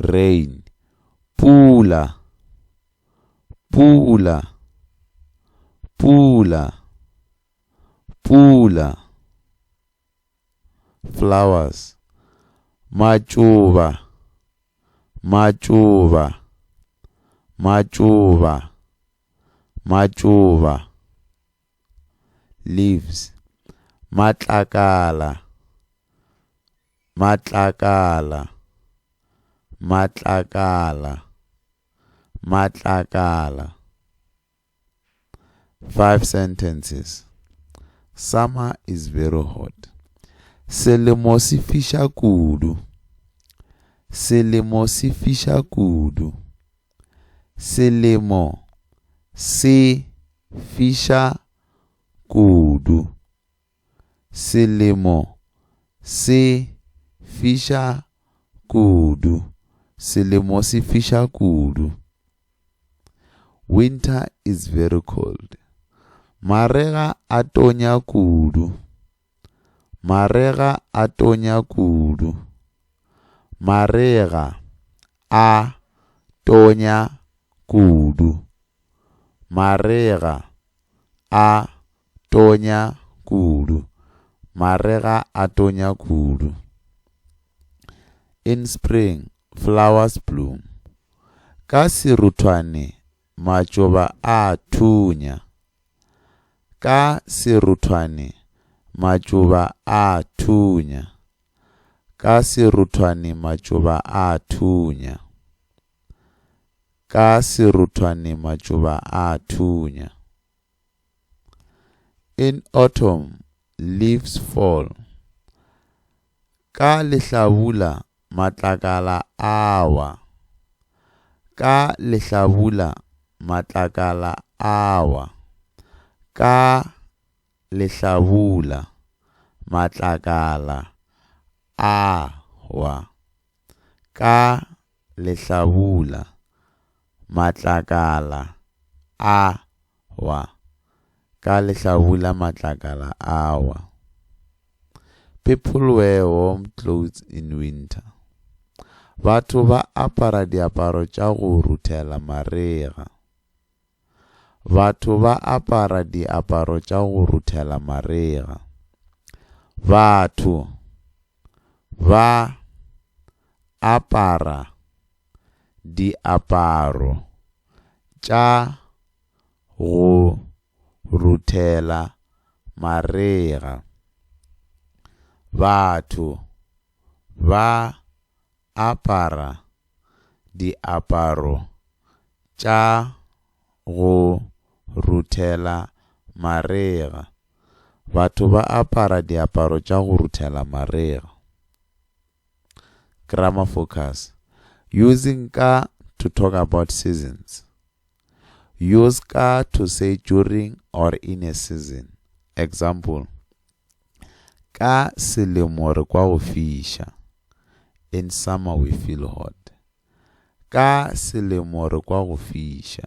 Rain, Pula, pula, pula, pula. Flowers, Matšoba, matšoba, matšoba, matšoba. leaves, matlakala, matlakala, matlakala, matlakala. Five sentences. Summer is very hot. Selemo se fiša kudu. Selemo se fiša kudu. Selemo se fiša kudu. Selemo se fiša kudu. Selemo se fiša kudu. Winter is very cold. Marega a tonya kudu. Marega a tonya kudu. Marega a tonya kudu. Marega a tonya kudu. Marega a tonya kudu. In spring, flowers bloom. Ka seruthwane matšoba a thunya. Ka seruthwane matšoba a thunya. Ka seruthwane matšoba a thunya. Ka seruthwane matšoba a thunya. In autumn, leaves fall. Ka lehlabula matlakala a wa. Ka lehlabula matlakala a wa. Ka lehlabula matlakala a wa. Ka lehlabula Matlakala a wa, ka lehlabula matlakala a wa. People wear warm clothes in winter. Batho ba apara diaparo tša go ruthela marega. Batho ba apara diaparo tša go ruthela marega. Batho ba apara diaparo tša go ruthela marega. Batho ba apara diaparo tša go ruthela marega. Batho ba apara diaparo tša go ruthela marega. Grammar focus Using ka to talk about seasons Use ka to say during or in a season Example Ka selemo re kwa go fiša In summer we feel hot Ka selemo re kwa go fiša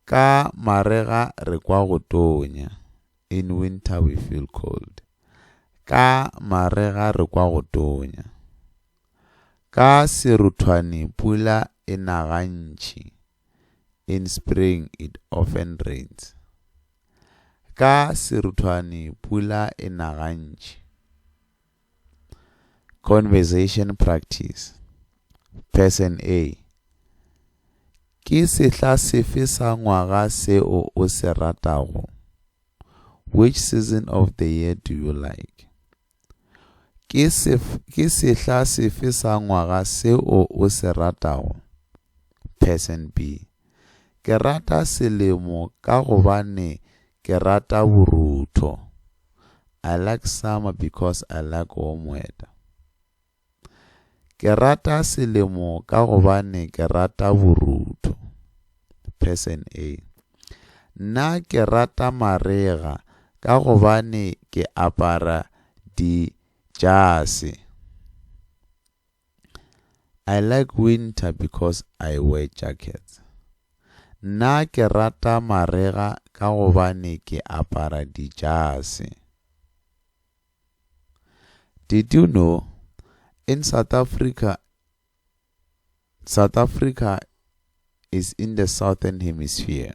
Ka marega re kwa go tonya In winter we feel cold. Ka marega re kwa go tonya. Ka seruthwane pula e na gantši. In spring it often rains. Ka seruthwane pula e na gantši. conversation practice person a ke sehla sefe sa ngwaga seo o se ratago which season of the year do you like ke sehla sefe sa ngwaga seo o se ratago person b ke rata selemo ka gobane Ke rata borutho. I like summer because I like warm weather. Ke rata selemo ka gobane ke rata borutho. Person A. Nna ke rata marega ka gobane ke apara dijase. I like winter because I wear jackets. Nna ke rata marega ka gobane ke apara dijase. Did you know in South Africa South Africa is in the southern hemisphere?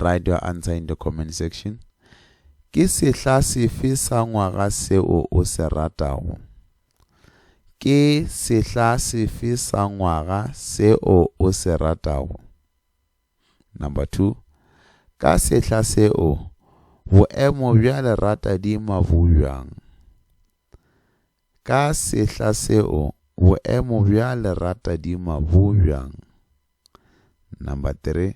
Write your answer in the comment section. Ke sehla sefe sa ngwaga seo o se ratago? Ke sehla sefe sa ngwaga seo o se ratago? Number two, ka sehla seo boemo bja lerata di mabubjang. Ka sehla seo, boemo bja leratadima bo bjang? Number 3.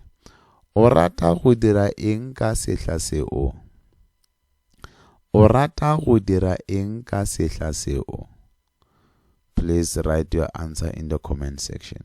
O rata go dira eng ka sehla seo? O rata go dira eng ka sehla seo? Please write your answer in the comment section.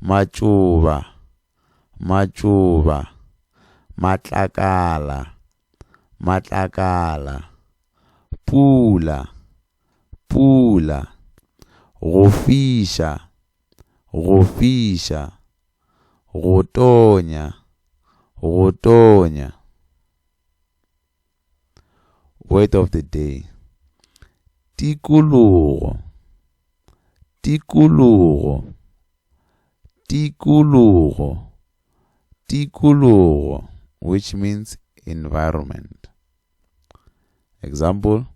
matšoba, matšoba, matlakala, matlakala, pula, pula, go fiša, go fiša, go tonya, go tonya. Word of the day. Tikologo. Tikologo. Tikologo. Tikologo, which means environment. Example,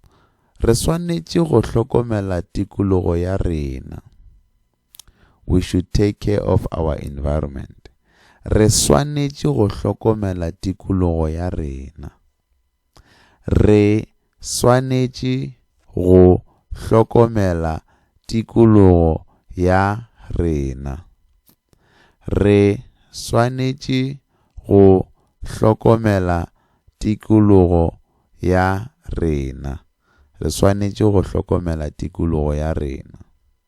re swanetše go hlokomela tikologo ya rena. We should take care of our environment. Re swanetše go hlokomela tikologo ya rena. Re swanetše go hlokomela tikologo ya rena. Re swanetše go hlokomela tikologo ya rena. Re swanetše go hlokomela tikologo ya rena.